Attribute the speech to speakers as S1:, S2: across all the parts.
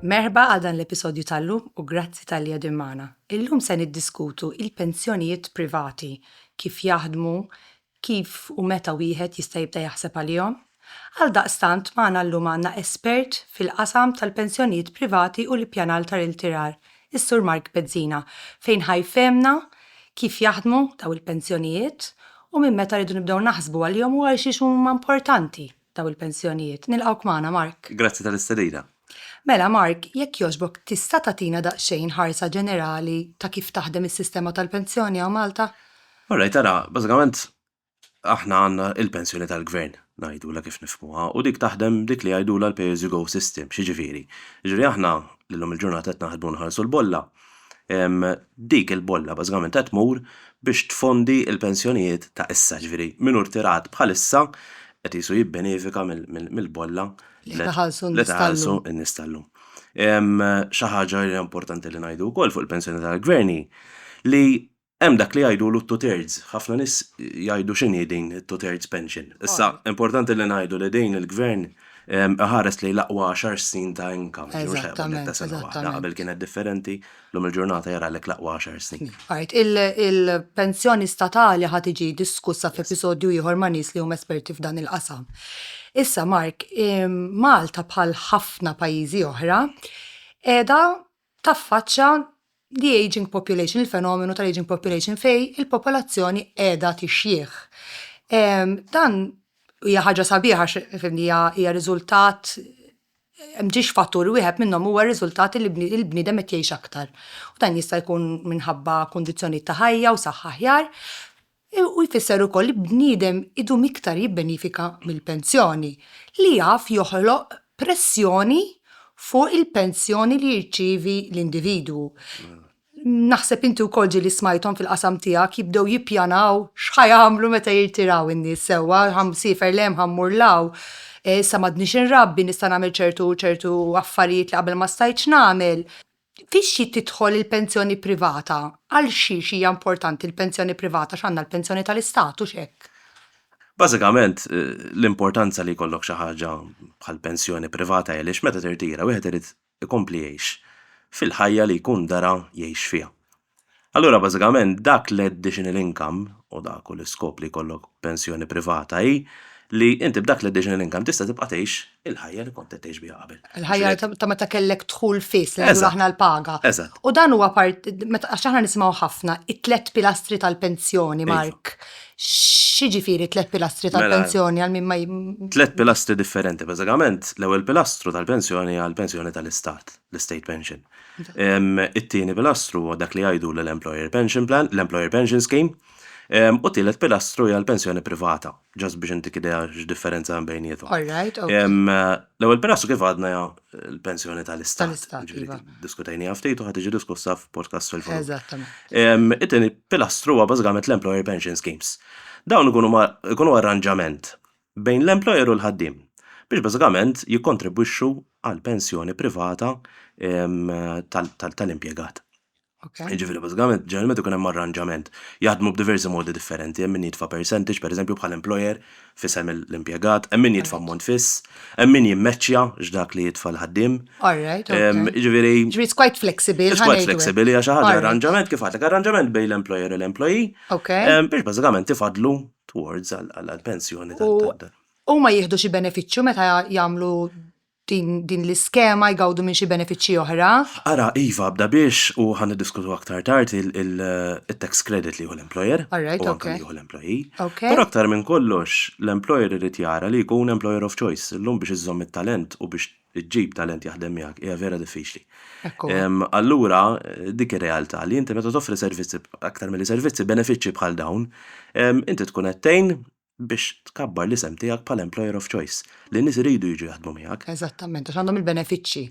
S1: Merħba għal dan l-episodju tal-lum u grazzi tal-li għedin maħna. Illum se niddiskutu il-pensjonijiet privati, kif jaħdmu, kif u meta wieħed jista' jibda jaħseb għalihom, Għaldaqstant magħna llum għandna espert fil-qasam tal-pensjonijiet privati u l-ippjanar tar-irtirar, is-Sur Mark Bezzina, fejn ħa jfehmna kif jaħdmu dawn il-pensjonijiet u minn meta rridu nibdew naħsbu għalihom u għalxiex huma importanti dawn il-pensjonijiet. Nilqgħuk magħna, Mark. Grazzi tal-istedina. Mela, Mark, jekk jogħġbok tista' tagħtina daqsxejn ħarsa ġenerali ta' kif taħdem is-sistema tal-pensjoni hawn Malta? All right, ara, bażikament aħna għandna il-pensjoni tal-gvern, ngħidulha kif nifhmuha, u dik taħdem b'dik li jgħidulha l-pay as you go system. X'jiġifieri? Jiġifieri aħna li llum il-ġurnata qed naħdmu nħallsu l-bolla, dik il-bolla bażikament qed tmur biex tfondi l-pensjonijiet ta' issa, jiġifieri min hu rtirat bħalissa qed qisu jibbenefika mill-bolla li qed iħallsu n-nies tal-lum. Xi ħaġa li hija importanti li ngħidu wkoll fuq il-pensjoni tal-gvern hi li Hemm dak li jgħidulu t-two-thirds, ħafna nies jgħidu x'inhi din it-two-thirds pension. Issa, importanti li ngħidu li din il-Gvern iħares lejn l-aqwa għaxar snin ta' income, ġifieri mhux ħajqbad netta sena waħda, qabel kienet differenti, llum il-ġurnata jaralek l-aqwa għaxar snin. Il-pensjoni statali ħa tiġi diskussa f'episodju ieħor ma' nies li huma esperti f'dan il-qasam. Issa, Mark, Malta bħal ħafna pajjiżi oħra qiegħda taffaċċja the ageing population, il-fenomenu tal-ageing population fejn il-popolazzjoni qiegħda tixjieħ. Dan hija ħaġa sabiħa għax hija hija riżultat mhix fattur wieħed minnhom huwa riżultat li l-bniedem qed jgħix aktar. Dan jista' jkun minħabba kundizzjonijiet ta' ħajja u saħħa aħjar, u jfisser ukoll li bniedem idum iktar jibbenifika mill-pensjoni, li jaf joħloq pressjoni fuq il-pensjoni li jirċievi l-individwu. Naħseb inti wkoll ġieli smajthom fil-qasam tiegħek jibdew jippjanaw x'ħa jagħmlu meta jirtiraw in-nies sewwa, ħa nsiefer 'l hemm, ħa mmur 'l hawn, issa m'għadnix inrabbi, nista' nagħmel ċertu u ċertu affarijiet li qabel ma stajtx nagħmel. Fix-xi tidħol il-pensjoni privata? Għal xiex hija importanti l-pensjoni privata? X'għandha l-pensjoni tal-Istat, hux hekk? Bażikament, l-importanza li jkollok xi ħaġa bħal pensjoni privata hi għaliex meta tirtira wieħed irid ikompli jgħix fil-ħajja li jkun dara jgħix fiha. Allura bażikament dak l-additional income, u dak hu l-iskop li jkollok pensjoni privata hi li inti b'dak l-additional income tista' tibqa' tgħix il-ħajja li kont qed tgħix biha qabel. Il-ħajja ta' meta kellek dħul fiss li ngħidu aħna l-paga. Eżatt. U dan huwa part għax aħna nisimgħu ħafna it-tliet pilastri tal-pensjoni, Mark. X'jiġifieri t-tliet pilastri tal-pensjoni għal min ma Tliet pilastri differenti bażikament. L-ewwel pilastru tal-pensjoni hija l-pensjoni tal-istat, l-estate pension. It-tieni pilastru huwa dak li jgħidu l-Employer Pension Plan, l-Employer Pension Scheme, u t-tielet pilastru hija l-pensjoni privata, ġast biex intik idea x'differenza hemm bejniethom. L-ewwel pilastru kif għadna hija l-pensjoni tal-Istat, iva. Diskutejniha ftit u ħa tiġi diskussa f'podcast fil-futur. Eżattament. It-tieni pilastru huwa bażikament l-Employer Pension Schemes. Dawn ikunu arranġament bejn l-employer u l-ħaddiem biex bażikament jikkontribwixxu għal pensjoni privata tal-impjegat. Jiġifieri bażikament ġeneralment ikun hemm arranġament. Jaħdmu b'diversi modi differenti, hemm min jitfa' percentage pereżempju bħal employer f'isem l-impjegat, hemm min jitfa' ammont fiss, hemm min jimmeċċja x'dak li jitfa' l-ħaddiem. Jiġifieri. Ġifieri it's quite flexible. It's quite flexible, hija xi ħaġa arranġament kif għadtlek, arranġament bejn l-employer u l-employee biex bażikament ifaddlu towards għall-pensjoni ta' dan. Huma jieħdu xi benefiċċju meta jagħmlu din l-iskema jgawdu minn xi benefiċċji oħra? Ara, iva, bda biex u ħan diskutu aktar tard il-tax credit li jieħu l-employer. Alright, u anke li jieħu l-employee. Okay. Però aktar minn kollox, l-employer irid jara li jkun employer of choice. Illum biex iżżomm it-talent u biex li ġġib talent jaħdem miegħek hija vera diffiċli. Allura dik ir-realtà li inti meta toffri servizzi aktar milli servizzi benefiċċji bħal dawn, inti tkun qed tgħin biex tkabbar l-isem tiegħek bħala employer of choice, li nies iridu jiġu jaħdmu miegħek. Eżattament, għax għandhom il-benefiċċji.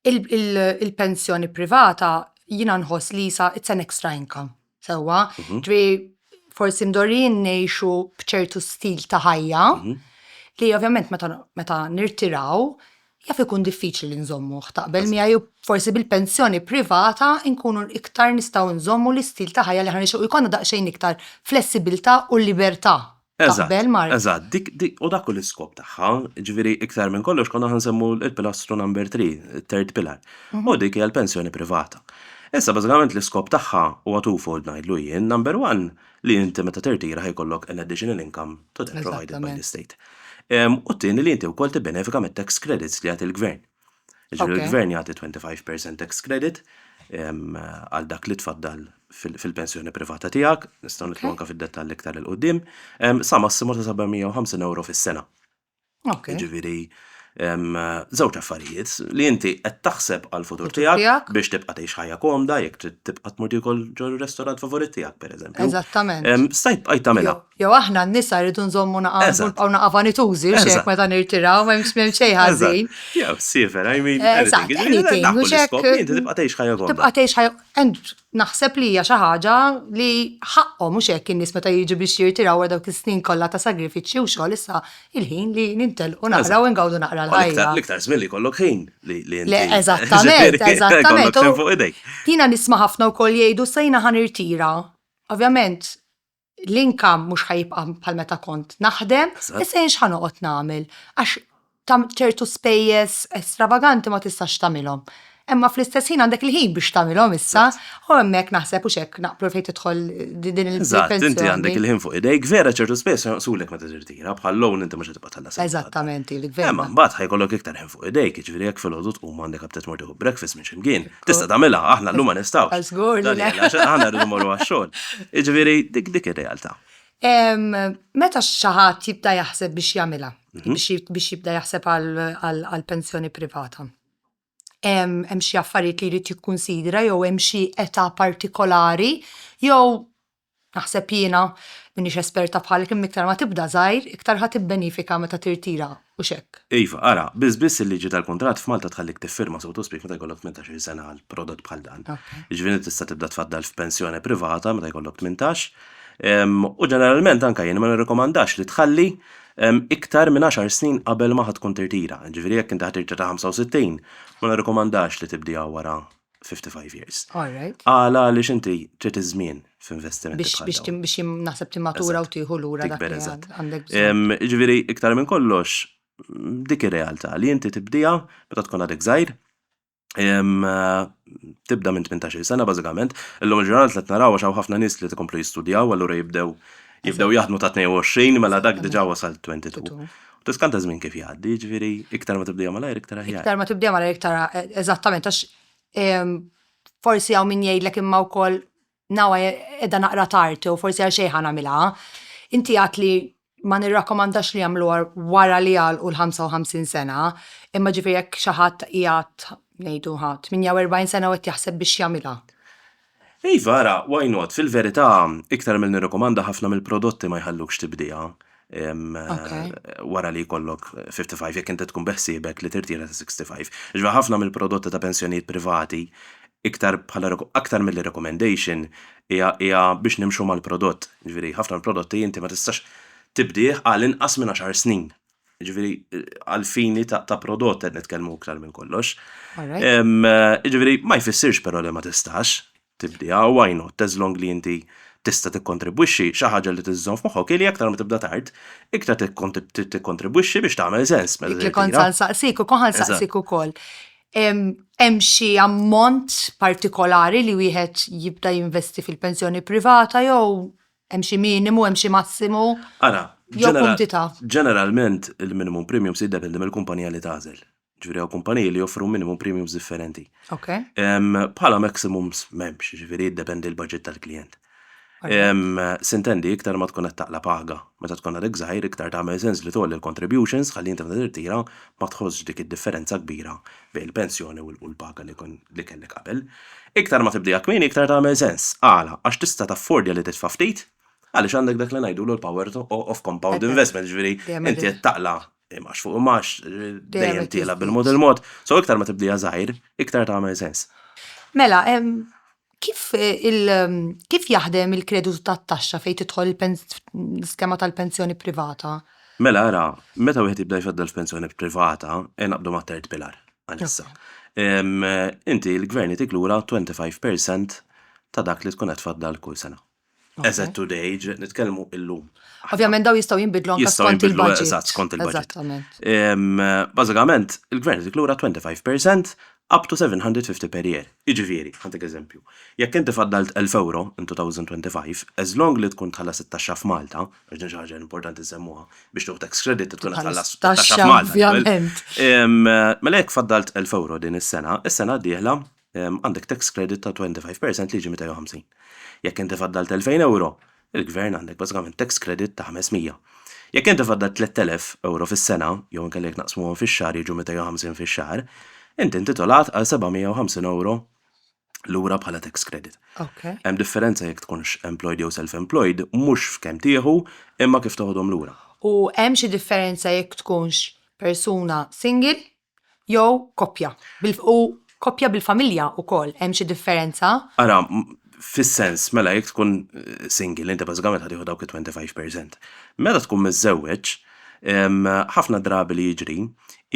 S1: Il-pensjoni privata jiena nħoss li sa it's an extra income. Sewwa, mhm. ġri forsi mdorrin ngħixu b'ċertu stil ta' ħajja mhm. li ovvjament meta nirtiraw jaf ikun diffiċli li nżommu taqbel miegħi forsi bil-pensjoni privata nkunu iktar nistgħu nżommu l-istil ta' ħajja li ħanixu jkollna daqsxejn iktar flessibilità u libertà Eżatt, Taqbel, Mark? eżatt, dik, dik, u dak hu l-iskop tagħha, ġifieri iktar minn kollox konna ħansemmu l-pilastru number three, it-third pillar, u dik hija l-pensjoni privata. Issa bażikament l-iskop tagħha huwa twofold ngħidlu jien, number one, li inti meta tirtira ħa jkollok an additional income to that provided by the Eżattament. state. Em, U t-tieni li inti wkoll tibbenefika mit-tax credits li jagħti l-gvern. Ġifieri Okay. l-gvern jagħti 25% tax credit em, għal dak li tfaddal fil- fil-pensjoni privata tiegħek, nistgħu nitlu Ok. anke fid-dettall iktar il qudiem sa massimu ta' 750 euro fis-sena. Ok. Ġifieri em, żewġ affarijiet li inti qed taħseb għal futur Futur tiegħek tiegħek. biex tibqa' tgħix ħajja komda jekk trid tibqa' tmur tiekol ġo r-restorant favorit tiegħek pereżempju. Eżattament. Em, Stajt bqajt tagħmilha. Jo. Jew aħna n-nisa rridu nżommu naqaw u naqa' vanitużi u xek meta nirtiraw ma jimx m'hemm xejn ħażin. Jew sifer, I mean, anything. U xek tibqa' tgħix ħajja gonda. Tibqa' tgħix ħajja. And naħseb li hija xi ħaġa li ħaqqhom u xek in-nies meta jiġu biex jirtiraw wara dawk is-snin kollha ta' sagrifiċċju u xogħol issa il-ħin li nintelqu naqraw u ngawdu naqra l-ħajja. L-iktar żmien li jkollok ħin li inti. Eżattament, eżattament. Jiena nisma' ħafna wkoll jgħidu sa jiena ħa nirtira. Ovvjament, l-inkam mhux ħajibqa' bħal meta kont naħdem, issa jien x'ħa noqgħod nagħmel għax ċertu spejjeż estravaganti ma tistax tagħmilhom. Imma fl-istess ħin għandek il-ħin biex tagħmilhom issa u hemmhekk naħseb hux hekk naqblu fejn tidħol din il-pensjoni. Inti għandek il-ħin fuq idejk, vera ċertu spejjeż jonqsulek meta tirtira, bħal loan inti mhux tibqa' tħallas. Eżattament, il-gvern. Imma mbagħad ħajkollok iktar ħin fuq idejk, jiġifieri jekk filgħodu tqum għandek aptit mort tieħu breakfast minn xi mkien, Tista' tagħmilha, aħna llum ma nistgħux. Żgur li le. Aħna rridu morru għax-xogħol. Jiġifieri dik dik ir-realtà. Meta xi ħadd jibda jaħseb biex jagħmilha, mhm. biex jibda jaħseb għal pensjoni privata, hemm xi affarijiet li jrid jikkunsidra jew hemm xi età partikolari jew Naħseb jiena, m'iniex esperta bħalek imma iktar ma tibda żgħir, iktar ħa tibbenifika meta tirtira, hux hekk? Iva, ara, biss biss il-liġi tal-kuntratt f'Malta tħallik tiffirma sowtospiek meta jkollok tmintax-il sena għal prodott bħal dan. Jiġifieri inti tista' tibda tfaddal f'pensjoni privata meta jkollok tmintax. U ġeneralment anke jien ma nirrikomandax li tħalli iktar minn għaxar snin qabel ma ħa tkun tirtira. Jiġifieri jekk inti ħa tirtira ta' 65, ma nirrikomandax li tibdiha wara 55 years. Alright. Għala li xinti trid iż-żmien f'investiment. Biex biex tim biex naħseb timatura u tieħu lura dak li għandek. Ġifieri iktar minn kollox dik ir-realtà li inti tibdija meta tkun għadek żgħir tibda minn 18 sena bażikament, illum il-ġurnata qed naraw għax hawn ħafna nies li qed ikomplu jistudjaw allura jibdew jibdew jaħdmu ta' 22 mela dak diġà wasal 22. Tiskant iż-żmien kif jgħaddi, jiġifieri iktar ma tibdejha malajr iktar aħjar. Iktar ma tibdejha malajr iktar eżattament għax ehm, forsi hawn min jgħidlek imma wkoll nawa edha naqra tard u forsi għal xejn ħanamilha. Inti għat li ma nirrakkomandax li jagħmlu wara li għal u l-55 sena, imma ġifieri jekk xi ħadd qiegħed ngħidu 48 sena u qed jaħseb biex jagħmilha. Iva, ara, why not? Fil-verità, iktar milli nirrikomanda ħafna mill-prodotti ma jħallukx tibdija wara li jkollok 55 jekk inti tkun beħsiebek li tirtira ta' 65. Iġva ħafna mill-prodotti ta' pensjonijiet privati iktar bħala aktar milli recommendation hija hija biex nimxu mal-prodott. Jiġifieri ħafna mill-prodotti inti ma tistax tibdih għal inqas minn għaxar snin. Ġifieri għal fini ta' prodott qed nitkellmu iktar minn kollox. Ġifieri ma jfissirx però li ma tistax tibdiha u why not as long li inti tista' tikkontribwixxi xi ħaġa li tiżżomm f'moħħok li aktar ma tibda tard, iktar tikkontribwixxi biex tagħmel sens. Dik li kont sa nsaqsik u koħan saqsik ukoll. Hemm xi ammont partikolari li wieħed jibda jinvesti fil-pensjoni privata jew Hemm xi minimu, hemm xi massimu? Ara, jew kumdità? Ġeneralment il-minimum premium se jiddependi mill-kumpanija li tagħżel. Ġifieri hawn kumpaniji li joffru minimum premiums differenti. Okay. Bħala maximums m'hemmx, ġifieri jiddependi l-budget tal-klijent. Sintendi iktar ma tkun qed taqla' paga. Meta tkun għadek żgħir iktar tagħmel sens li tgħolli l-contributions ħalli inti meta tirtira ma tħossx dik id-differenza kbira bejn il-pensjoni u l-paga li kellek qabel. Iktar ma tibdieha kmieni iktar tagħmel sens. Għala? Għax tista' taffordja li titfa' ftit għaliex għandek dak li ngħidulu l-power of compound investment, jiġifieri inti qed taqla' imgħax fuq imgħax, dejjem tiela' bil-mod il-mod, so iktar ma tibdieha żgħir, iktar tagħmel sens. Mela, Kif kif jaħdem il-kreditu tat-taxxa fejn tidħol l-iskema tal-pensjoni privata? Mela ara, meta wieħed jibda jfaddal f'pensjoni privata, ejja naqbdu mat-tert pilar għalissa. Inti l-gvern jtik lura 25% ta' dak li tkun qed tfaddal kull sena. Eżatt today, ġiet nitkellmu illum. Ovvjament daw jistgħu jinbidlu anke skont il-budget. Eżatt, skont il-budget. Bażikament, il-gvern dik lura 25% up to 750 per year. Jiġifieri, ħantik eżempju, jekk inti faddalt 1,000 ewro in 2025, as long li tkun tħallas it-taxxa f'Malta, għax din xi ħaġa importanti nsemmuha, biex tieħu tax credit tkun qed tħallas it-taxxa f'Malta. Ovvjament. Mela jekk faddalt 1,000 ewro din is-sena, is-sena d-dieħla għandek tax credit ta' 25 percent li jiġi 250. Jekk inti faddalt 2000 euro, il-gvern għandek bażikament tax credit ta' 500. Jekk inti faddalt 3000 euro fis-sena, jew inkella jekk naqsmuhom fix-xahar jiġu 250 fix-xahar, inti intitolat għal 750 euro lura bħala tax credit. Okay. Hemm differenza jekk tkunx employed jew self-employed, mhux f'kemm tieħu, imma kif toħodhom lura. U hemm xi differenza jekk tkunx persuna single jew koppja, u koppja bil-familja wkoll, hemm xi differenza? Ara, fis-sens, mela jekk tkun single inti bażikament ħa tieħu dawk it-twenty five percent. Meta tkun miżżewweġ, ħafna drabi li jiġri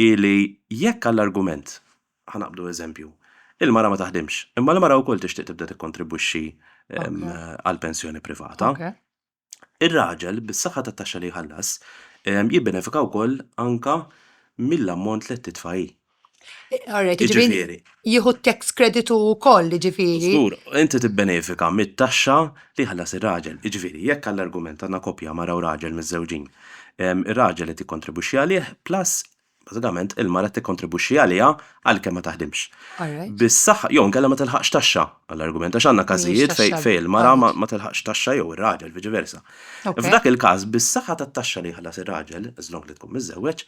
S1: hi li jekk għall-argument, ħa naqbdu eżempju, il-mara ma taħdimx, imma l-mara wkoll tixtieq tibda tikkontribwixxi għall-pensjoni privata, Ir-raġel, bis-saħħa tat-taxxa li jħallas, jibbenefika wkoll anke mill-ammont li qed titfa' hi. Għarrek, jiġifieri, jiġifieri jieħu t-tax credit hu wkoll, jiġifieri. Żgur, inti tibbenefika mit-taxxa li jħallas ir-raġel. Jiġifieri, jekk għall-argument għandna koppja, mara u raġel miżżewġin, ir-raġel qed jikkontribwixxi għalih, plus Bażikament, il-mara qed tikkontribwixxi għaliha għalkemm ma taħdimx. Bis-saħħa, jew inkella ma tilħaqx taxxa, għall-argument, għax għandna każijiet fejn il-mara ma tilħaqx taxxa jew ir-raġel, viċi versa. F'dak il-każ, bis-saħħa tat-taxxa li jħallas ir-raġel, as long li tkun miżżewweġ,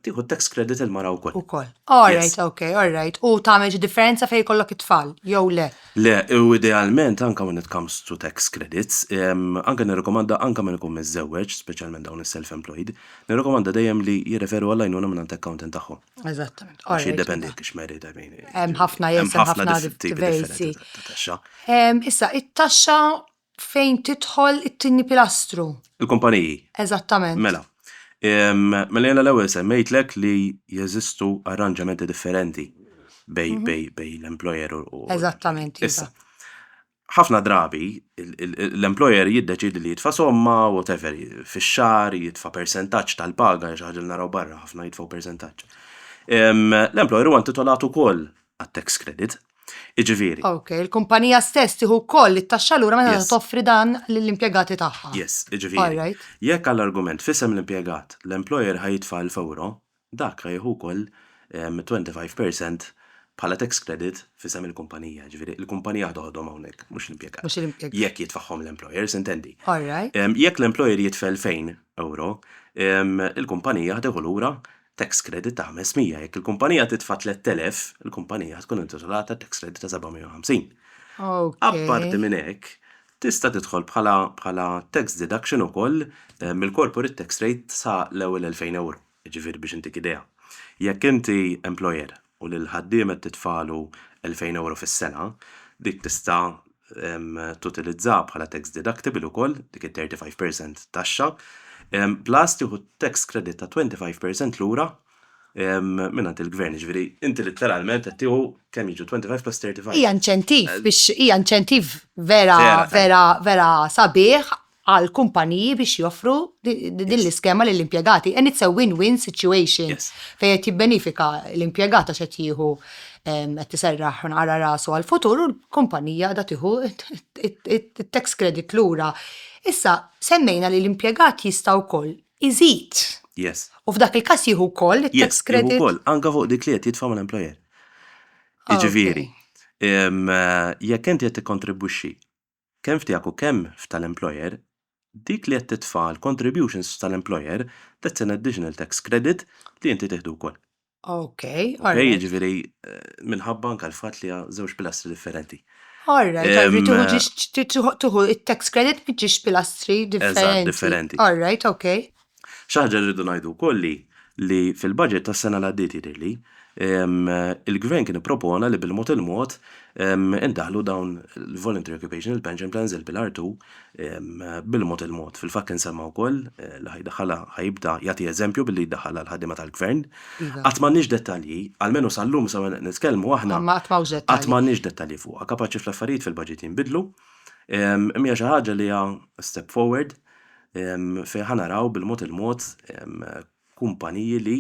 S1: tieħu tax credit il-mara wkoll. Ukoll. All right, ok, all right. U tagħmel xi differenza fejn jkollok it-tfal, jew le? Le, u idealment, anke when it comes to tax credits, anke nirrikomanda anke min ikun miżżewweġ, speċjalment dawn is-self-employed, Nirrakomanda dejjem li jirreferu għall-għajnuna mingħand accountant tagħhom. Eżattament. Għax jiddependi jekk xmeri ta' min. Hemm ħafna jesem ħafna diversi. Issa, it-taxxa fejn tidħol it-tieni pilastru. Il-kumpaniji. Eżattament. Mela. Mela jena l-ewwel semmejtlek li jeżistu arranġamenti differenti bej mhm. bej bej l-employer u. Eżattament. Issa. Ħafna drabi, l-employer jiddeċiedi li jitfa' somma, whatever, fix-xahar, jitfa' persentaġġ tal-paga, xi ħaġa li naraw barra, ħafna jitfgħu persentaġġ. L-employer huwa intitolat ukoll għat-tax credit. Jiġifieri. Ok, il-kumpanija stess tieħu wkoll it-taxxa lura meta toffri dan lill-impjegati tagħha. Yes, jiġifieri. Jekk għall-argument f'isem l-impjegat, l-employer ħa jitfa' 1000 ewro, Dak ra jieħu wkoll 25 per cent bħala tax credit f'isem il-kumpanija, jiġifieri il-kumpanija waħda ħodhom hawnhekk, mhux l-impjegat. Mhux l-impjegat. Jekk jitfagħhom l-employer, s'intendi. All right. Jekk l-employer jitfa' 2,000 ewro, il-kumpanija ħtieħu lura tax credit ta' 500. Jekk il-kumpanija titfa' 3,000, il-kumpanija tkun intitolata tax credit ta' 750. Okay. Apparti minn hekk, tista' tidħol bħala tax deduction ukoll mill-corporate tax rate sa l-ewwel 2,000 ewro. Jiġifieri biex intik idea, jekk inti employer u lill-ħaddiem qed titfagħlu elfejn ewro fis-sena, dik tista' tutilizzaha bħala tax deductible ukoll, dik it-thirty five per cent taxxa, plus tieħu tax credit ta' twenty five per cent lura mingħand il-gvern. Jiġifieri inti litteralment qed tieħu kemm jiġu twenty five plus thirty five? Hija inċentiv biex, hija inċentiv vera, vera, vera sabiħ għal kumpaniji biex joffru din l-iskema lill impjegati And it's a win-win situation yes. fejn qed jibbenifika l-impjegata se jieħu qed tiserraħ nara rasu għal-futur u l-kumpanija da tieħu it-tax credit lura. Issa, semmejna li l-impjegat jista' wkoll iżid. Yes. U f'dak il-każ jieħu wkoll it-tax credit. Yes, wkoll, anke fuq dik li qed jitfa' mal-employer. Ah, Jiġifieri, eh, jekk inti qed tikkontribwixxi kemm f'tiegħek u kemm f'tal-employer, dik li qed titfa' għall-contributions f'tal-employer, that's an additional tax credit li inti tieħdu wkoll. Ok, all right. Ok, jiġifieri minħabba anke l-fatt li għal żewġ pilastri differenti. All right, all right, tieħu ġiex tieħu it-tax credit minn ġiex pilastri differenti. Eżatt, differenti. All right, ok. Xi ħaġa li rridu ngħidu wkoll hi li fil-budget tas-sena li għaddiet jidhirli, il-Gvern kien ippropona li bil-mod il-mod indaħħlu dawn il-Voluntary Occupational Pension Plans, il-Pillar Two, bil-mod il-mod. Fil-fatt kien semma wkoll li ħa jdaħħalha, ħa jibda jagħti eżempju billi jdaħħalha għall-ħaddiema tal-Gvern. Qatt m'għandniex dettalji, almenu sal-lum sa meta qed nitkellmu aħna, qatt m'għandniex dettalji fuqha. Kapaċi fl-affarijiet fil-budget jinbidlu, imma hija xi ħaġa li hija step forward fejn ħa naraw bil-mod il-mod kumpaniji li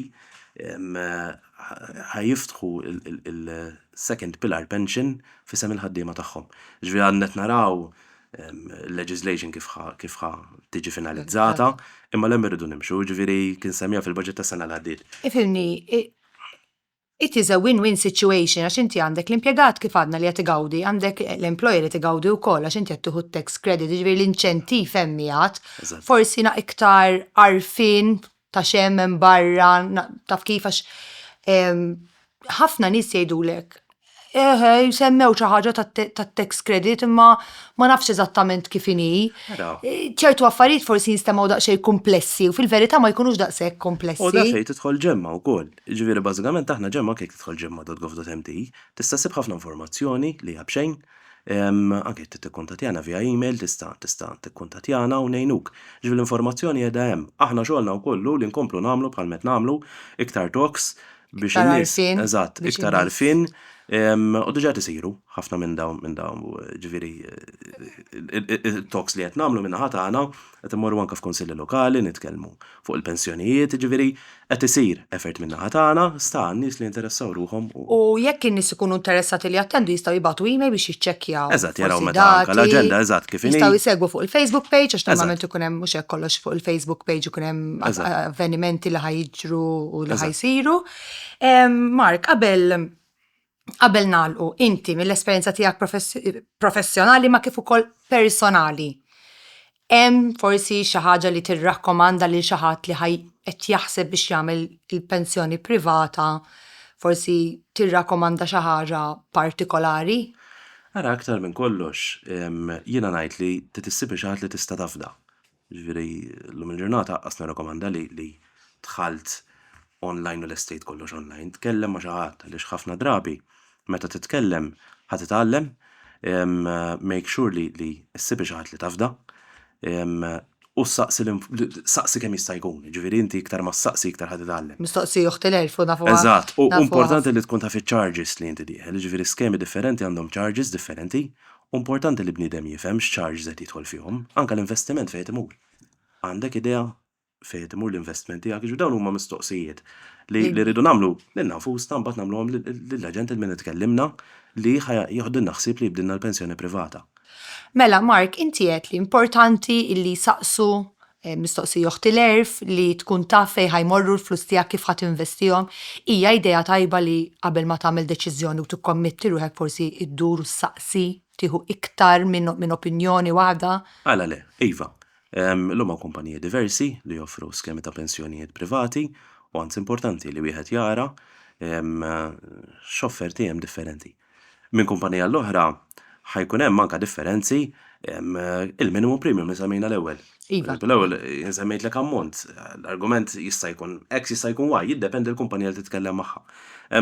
S1: ħa jiftħu il-second pillar pension f'isem il-ħaddiema tagħhom. Jiġifieri għadna qed naraw il-leġiżlation kif ħa tiġi finalizzata, imma 'l hemm irridu nimxu, jiġifieri kien semmiha fil-baġit tas-sena li għaddiet. Ifhimni, It is a win-win situation għax inti għandek l-impjegat kif għadna li qed igawdi, għandek l-employer li qed igawdi wkoll għax inti qed tieħu t-tax credit, jiġifieri l-inċentiv hemm qiegħed. Forsi na iktar għarfien ta' x'hemm hemm barra, taf kif għax ħafna nies jgħidulek eħe semmew xi ħaġa tat-tax credit imma ma nafx eżattament kif inhi. ċertu affarijiet forsi jinstemgħu daqsxejn kumplessi u fil-verità ma jkunux daqshekk kumplessi. U daqsxejn tidħol ġemma wkoll. Jiġifieri bażikament aħna ġemma anke jekk tidħol ġemma dot gov dot mt tista' ssib ħafna informazzjoni li hija b'xejn, anke jekk trid tikkuntattjana via email tista' tista' tikkuntattjana u ngħinuk. Jiġifieri l-informazzjoni qiegħda hemm. Aħna xogħolna wkoll hu li nkomplu nagħmlu bħalma qed nagħmlu iktar talks biex in-nies eżatt iktar għarfien u diġà qed isiru ħafna minn dawn minn dawn jiġifieri talks li qed nagħmlu min-naħa tagħna qed immorru anke f'kunsilli lokali nitkellmu Fuq il-pensjonijiet, jiġifieri, qed isir effort min-naħa tagħna, sta għan-nies li jinteressaw ruħhom u. U jekk in-nies ikunu interessati li jattendu jistgħu jibgħatu email biex jiċċekkjaw. Eżatt, jaraw meta anke l-aġenda eżatt kif inhi. Jistgħu jsegwu fuq il-Facebook page għax normalment ikun hemm mhux hekk kollox fuq il-Facebook page ikun hemm avvenimenti li ħa jiġru u li ħa jsiru. Mark, qabel Qabel nagħlqu, inti mill-esperjenza tiegħek professjonali ma kif ukoll personali, hemm forsi xi ħaġa li tirrakkomanda lil xi ħadd li ħaj qed jaħseb biex jagħmel il-pensjoni privata, forsi tirrakkomanda xi ħaġa partikolari? Ara, aktar minn kollox, jiena ngħid li trid issib xi ħadd li tista' tafda. Ġifieri llum il-ġurnata aqqas nirrakomanda li li dħalt online u lest tgħid kollox online. Tkellem ma' xi ħadd għaliex ħafna drabi meta titkellem ħa titgħallem, make sure li li ssib xi ħadd li tafda u ssaqsi saqsi kemm jista' jkun, jiġifieri inti iktar ma ssaqsi iktar ħa titgħallem. Mistoqsi uħt il-għerf u nafuha. Eżatt, u importanti li tkun taf iċ-charges li inti dieħel, jiġifieri skemi differenti għandhom charges differenti Hu importanti li bniedem jifhem x'charge żed jidħol fihom, anke l-investiment fejn qed imur. Għandek idea fejn qed imur l-investiment tiegħek? Jiġifieri dawn huma mistoqsijiet li li rridu nagħmlu lilna nfusna mbagħad nagħmluhom lill-aġent il-min qed ikellimna li ħa jiħdilna ħsieb li jibdilna l-pensjoni privata. Mela Mark inti għedt li importanti illi jsaqsu Mistoqsija, Oħti l-għerf li tkun taf fejn ħa jmorru l-flus tiegħek kif ħa tinvestihom, hija idea tajba li qabel ma tagħmel deċiżjoni u tikkommitti ruħek forsi ddur u ssaqsi, tieħu iktar minn opinjoni waħda? Għala le? Iva. Illum hawn kumpaniji diversi li joffru skemi ta' pensjonijiet privati u anzi importanti li wieħed jara x'offerti hemm differenti. Minn kumpanija għal oħra ħa jkun hemm anke differenzi il-minimum premium li semmejna l-ewwel. Iva. L-ewwel insemmejtlek ammont, l-argument jista' jkun X jista' jkun Y, jiddependi l-kumpanija li titkellem magħha.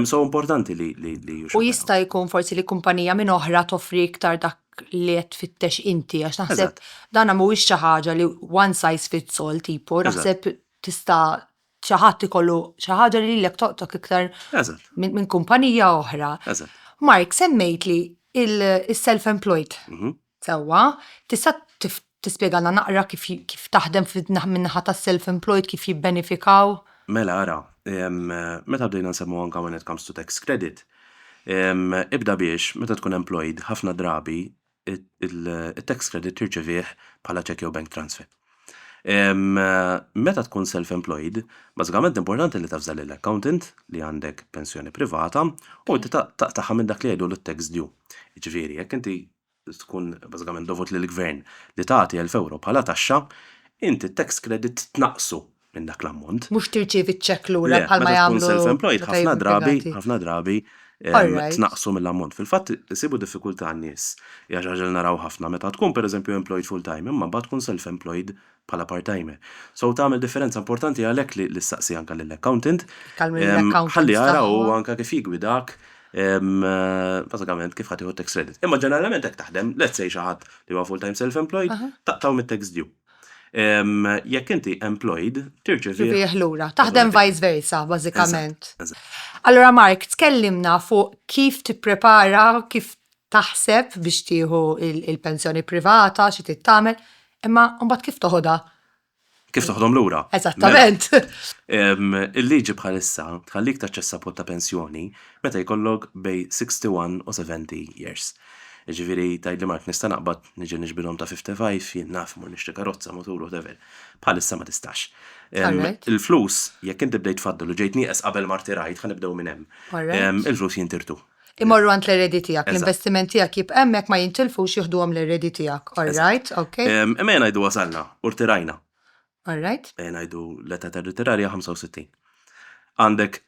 S1: So importanti li jixraq. U jista' jkun forsi li kumpanija minn oħra toffri iktar dak li qed tfittex inti għax naħseb dan mhuwiex xi ħaġa li one size fits all tipu, naħseb tista' xi ħadd ikollu xi ħaġa li lilek toqtok iktar minn kumpanija oħra. Mark, semmejt li il-self-employed. Mhm. Sewwa, tista' tispjegalna naqra kif kif taħdem min-naħa tas-self-employed kif jibbenefikaw? Mela ara, meta bdejna nsemmu anke when it comes to tax credit, ibda biex meta tkun employed ħafna drabi it-tax credit tirċevih bħala cheque jew bank transfer. Meta tkun self-employed, bażikament importanti li tavża lill-accountant li għandek pensjoni privata u inti taqtagħha minn dak li jgħidu l-tax due. Jiġifieri, jekk inti tkun bażikament dovut lill-gvern li tagħti 1000 euro bħala taxxa, inti t-tax credit tnaqqsu minn dak l-ammont. Mhux tirċievi ċ-ċekk lura bħalma jagħmlu. Meta tkun self-employed ħafna drabi, ħafna drabi tnaqqsu mill-ammont. Fil-fatt isibu diffikultà n-nies. Hija xi ħaġa li naraw ħafna meta tkun pereżempju employed full-time imma mbagħad tkun self-employed bħala part-timer. So tagħmel differenza importanti għalhekk li ssaqsi anke lill-accountant ħalli jara hu anke kif jiggwidak bażikament kif ħadd jieħu tax credit. Imma ġeneralment hekk taħdem, let's say xi ħadd li huwa full-time self-employed taqtgħu mit-tax due. Jekk inti employed, tirċevi. Tirċevi lura. Taħdem vice versa, bażikament. Allora Mark, tkellimna fuq kif tipprepara, kif taħseb biex tieħu il-pensjoni privata, xi tittamel, imma mbagħad kif toħodha? Kif toħdhom lura? Eżattament. Mela, il-liġi bħalissa tħallik taċċessa pot ta' pensjoni meta jkollok bej 61 u 70 years. Ġifieri tgħidli Mark nista' naqbad Niġi niġbilhom ta' 55, jien naf mur nixtri karozza, mutur, whatever. Bħalissa ma tistax. Il-flus, jekk inti bdejt faddel u ġejt nieqes qabel ma rtirajt, ħa nibdew minn hemm. Il-flus jintirtu. Imorru għand l-eredi tiegħek, l-investiment tiegħek jibqa' hemmhekk ma jintilfux jieħduhom l-eredi tiegħek. All right, ok. Imma ejja ngħidu wasalna u rtirajna. All right. Ejja ngħidu l-età tar-ritirar hija 65. Għandek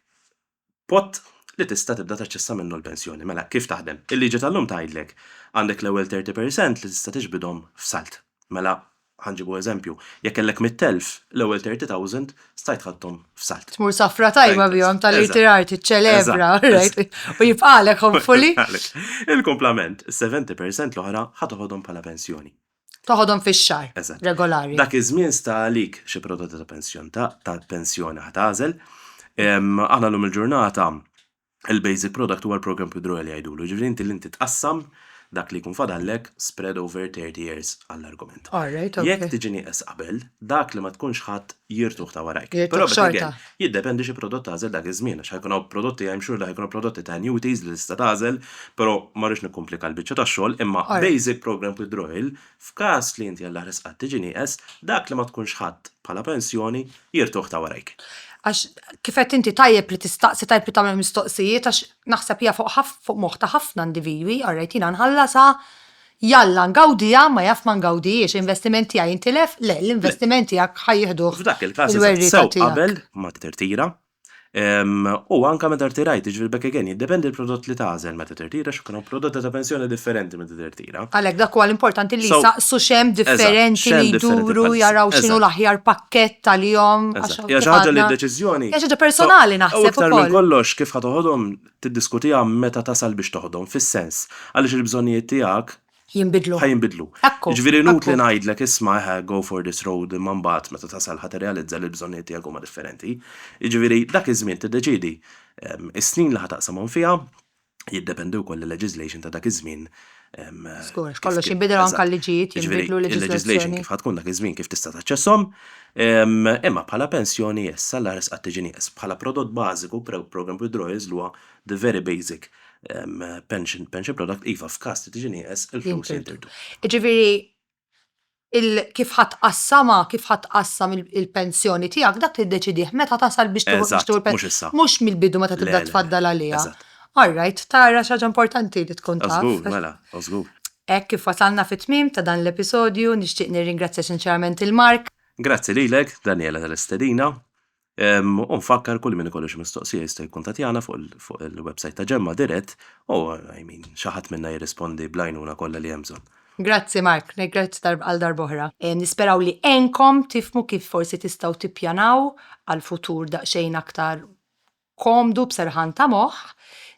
S1: pot li tista' tibda taċċessa minnu l-pensjoni. Mela, kif taħdem? Il-liġi tal-lum tgħidlek għandek l-ewwel 30 per cent li tista' tiġbidhom f'salt. Mela, ħa nġibu eżempju, jekk kellek 100,000, l-ewwel 30,000 stajt ħadthom f'salt. Tmur safra tajba bihom tal-irtirar tiċċelebra, right? U jibqalek hopefully. Il-kumplament, is-70 per cent l-oħra ħa toħodhom bħala pensjoni. Toħodhom fix-xahar Eżatt. regolari. Dak iż-żmien sta għalik xi prodotti ta' pensjon ta' ta' pensjoni ħa tagħżel. Em, Aħna llum il-ġurnata il-basic product huwa l-program withdrawal li jgħidulu. Ġifieri inti li inti tqassam dak li jkun fadallek spread over 30 years għall-argument. All right, Jekk okay. tiġi nieqes qabel, dak li ma tkunx ħadd jirtuh ta' warajk. Jirtuh Però bet xorta. again, Jiddependi xi prodott tagħżel dak iż-żmien għax ħa jkun hawn prodotti I'm sure li ħa jkunu prodotti ta' annuities li tista' tagħżel però ma rridx nikkumplika l-biċċa tax-xogħol imma basic programmed withdrawal f'każ li inti Alla ħrisqha tiġi nieqes dak li ma tkunx ħadt bħala pensjoni jirtuh ta' warajk. Għax kif għedt inti tajjeb li tistaqsi tajjeb li tagħmel mistoqsijiet għax naħseb hija fuq fuq moħħ ta' ħafna individwi alright jiena nħallasha Jalla ngawdiha ma jaf ma ngawdihiex, l-investiment tiegħi jintilef? Le, l-investiment tiegħek ħa jieħduh il-werrieta tiegħek. F'dak il-każ eżatt, sew qabel ma tirtira u anke meta rtirajt, jiġifieri back again, jiddependi l-prodott li tagħżel meta tirtira x'ikun hawn prodotti ta' pensjoni differenti meta tirtira. Għalhekk dak huwa l-importanti li jsaqsu x'hemm differenti li jduru jaraw x'inhu l-aħjar pakkett għalihom għax hawn kif għadna. Eżatt, hija xi ħaġa li d-deċiżjoni. Hija xi ħaġa personali naħseb ukoll. U aktar minn kollox kif ħa toħodhom tiddiskutiha meta tasal biex toħdom, fis-sens, għaliex il-bżonnijiet tiegħek. Jinbidlu. Ħa jinbidlu. Akku. Jiġifieri inutli ngħidlek isma' eħe go for this road imma mbagħad meta tasal ħa tirrealizza li l-bżonnijiet tiegħek huma differenti. Jiġifieri dak iż-żmien tiddeċiedi is-snin li ħa taqsamhom fiha, jiddependi wkoll il-legislation ta' dak iż-żmien Skur, kollox jinbidel anke l-liġijiet jinbidlu l-leġiżlazzjoni. Kif tkun dak iż-żmien kif tista' taċċesshom, imma bħala pensjoni issa l-irs qatt tiġi nieqes. Bħala prodott bażiku, programme withdrawals li huwa the very basic pension product, iva f'każ li tiġi nieqes il-flus jintirdu. Jiġifieri kif ħa tqassamha, kif ħa tqassam il-pensjoni tiegħek, dak tiddeċidih meta tasal biex tieħu l-pensjoni. Mhux mill-bidu meta tibda tfaddal għaliha. All right, tara xi ħaġa importanti li tkun taf. Żgur, mela, żgur. Hekk kif wasalna fit-tmiem ta' dan l-episodju, nixtieq nirringrazzja sinċerament lil Mark. Grazzi lilek, Daniela tal-istedina. U nfakkar kull min ikollu xi mistoqsija jista' jikkuntattjana fuq il-website ta' Ġemma dirett u I mean xi ħadd minna jirrispondi bl-għajnuna kollha li hemm bżonn. Grazzi Mark, grazzi għal darb'oħra. Nisperaw li għenkom tifhmu kif forsi tistgħu tippjanaw għal futur daqsxejn aktar komdu b'serħan ta' moħħ.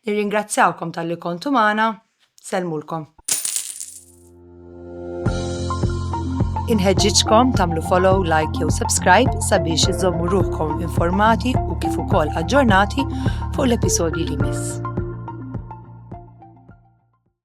S1: Nirringrazzjawkom talli kontu magħna. Sellmulkom. Inħeġġiġkom tagħmlu follow, like jew subscribe sabiex iżommu ruħkom informati u kif ukoll aġġornati fuq l-episodji li miss.